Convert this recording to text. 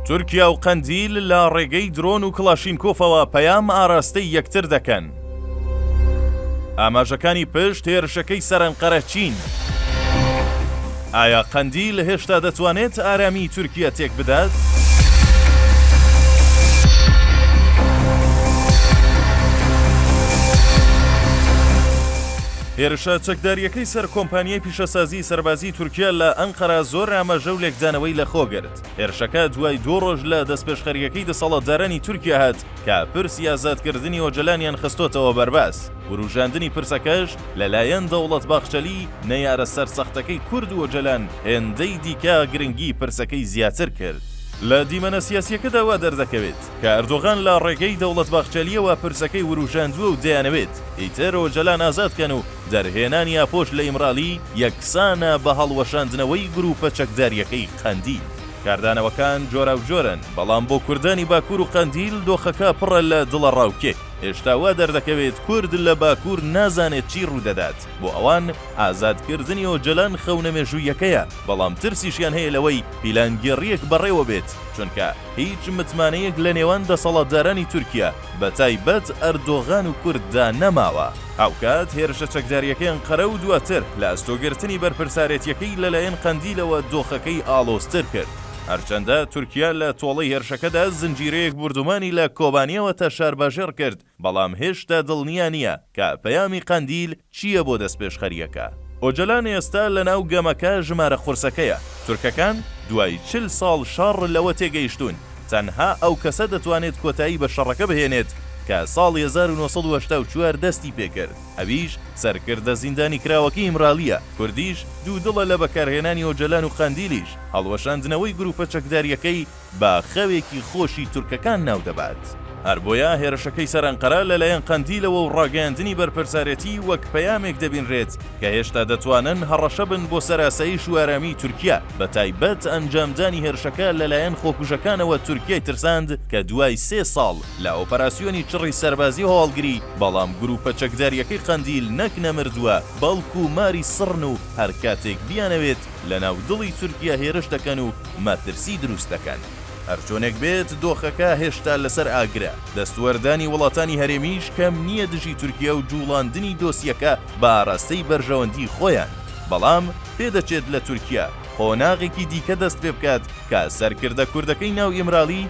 تورکیا و قەندیل لە ڕێگەی درۆن و کڵاشینکۆفەوە پەیام ئاراستەی یەکتر دەکەن. ئاماژەکانی پشت هێرشەکەی سەرەنقەرە چین؟ ئایا قەندیل هێشتا دەتوانێت ئارامی تورکیا تێک بدات؟ هێرشە چەکداریەکەی سەر کۆمپانیای پیشەسازی هێزەکانی سەربازیی تورکیا لە ئەنقەرە زۆر ئاماژە و لێکدانەوەی لە خۆ گرت. هێرشەکە دوای دوو ڕۆژ لە دەستپێشخەرییەکەی دەسەڵاتدارانی تورکیا هات کە پرسی ئازادکردنی ئۆجەلانیان خستۆتەوە بەرباس، وروژاندنی پرسەکەش لەلایەن دەوڵەت باخچەلی نەیارە سەرسەختەکەی کورد و ئۆجەلان هێندەی دیکە گرنگیی پرسەکەی زیاتر کرد. لە دیمەنە سیاسییەکەدا وا دەردەکەوێت، کە ئەردۆغان لە ڕێگەی دەوڵەت باخچەلییەوە پرسەکەی ورووژاندووە و دەیانەوێت ئیتر ئۆجەلان ئازاد کەن و دەرهێنانی ئاپۆش لە ئیمرالی یەکسانە بە هەڵوەشاندنەوەی گرووپە چەکدارییەکەی قەندیل. کاردانەوەکان جۆراوجۆرن، بەڵام بۆ کوردانی باکوور و قەندیل دۆخەکە پڕە لە دڵەڕاوکێ. هێشتا وا دەردەکەوێت کورد لە باکوور نازانێت چی ڕوو دەدات. بۆ ئەوان ئازادکردنی ئۆجەلان خەونە مێژووییەکەیە، بەڵام ترسیشیان هەیە لەوەی پیلانگێڕییەک بەڕێوە بێت، چونکە. هیچ متمانەیەک لە نێوان دەسەڵاتدارانی تورکیا، بەتایبەت ئەردۆغان و کورد دا نەماوە. هاوکات هێرشە چەکدارییەکەی ئەنقەرە و دواتر لە ئەستۆگرتنی بەرپرسارێتییەکەی لەلایەن قەندیلەوە دۆخەکەی ئاڵۆزتر کرد. هەرچەندە تورکیا لە تۆڵەی هێرشەکەدا زنجیرەیەک بوردومانی لە کۆبانێوە تا شارباژێڕ کرد، بەڵام هێشتا دڵنیا نییە کە پەیامی قەندیل چییە بۆ دەستپێشخەرییەکە. ئۆجەلان ئێستا لەناو گەمەکە ژمارە قورسەکەیە. تورکەکان دوای چل ساڵ شەڕ لەوە تێگەیشتوون تەنها ئەو کەسە دەتوانێت کۆتایی بە شەڕەکە بهێنێت کە ساڵی هەزار و نۆ سەد و هەشتا و چوار دەستی پێکرد، ئەویش سەرکردە زیندانیکراوەکەی ئیمرالییە. کوردیش دوودڵە لە بەکارهێنانی ئۆجەلان و قەندیلیش هەڵوەشاندنەوەی گرووپە چەکدارییەکەی، بە خەوێکی خۆشی تورکەکان ناو دەبات، هەر بۆیە هێرشەکەی سەر ئەنقەرە لەلایەن قەندیلەوە و ڕاگەیاندنی بەرپرسارەتی وەک پەیامێک دەبینرێت کە هێشتا دەتوانن هەڕەشە بن بۆ سەر ئاسایش و ئارامیی تورکیا، بەتایبەت ئەنجامدانی هێرشەکە لەلایەن خۆکوژەکانەوە تورکیای ترساند کە دوای سێ ساڵ لە ئۆپەراسیۆنی چڕی سەربازی و هەواڵگری، بەڵام گرووپە چەکدارییەکەی قەندیل نەک نەمردووە، بەڵکو ماری سڕن و هەر کاتێک بیانەوێت، لە ناو دڵی تورکیا هێرش دەکەن و مەترسی دروست دەکەن. هەرچۆنێک بێت دۆخەکە هێشتا لەسەر ئاگرە، دەستوەردانی وڵاتانی هەرێمیش کەم نییە دژی تورکیا و جوڵاندنی دۆسیەکە بە ئاراستەی بەرژەوەندی خۆیان، بەڵام پێدەچێت لە تورکیا قۆناغێکی دیکە دەست پێبکات کە سەرکردە کوردەکەی ناو ئیمرالی،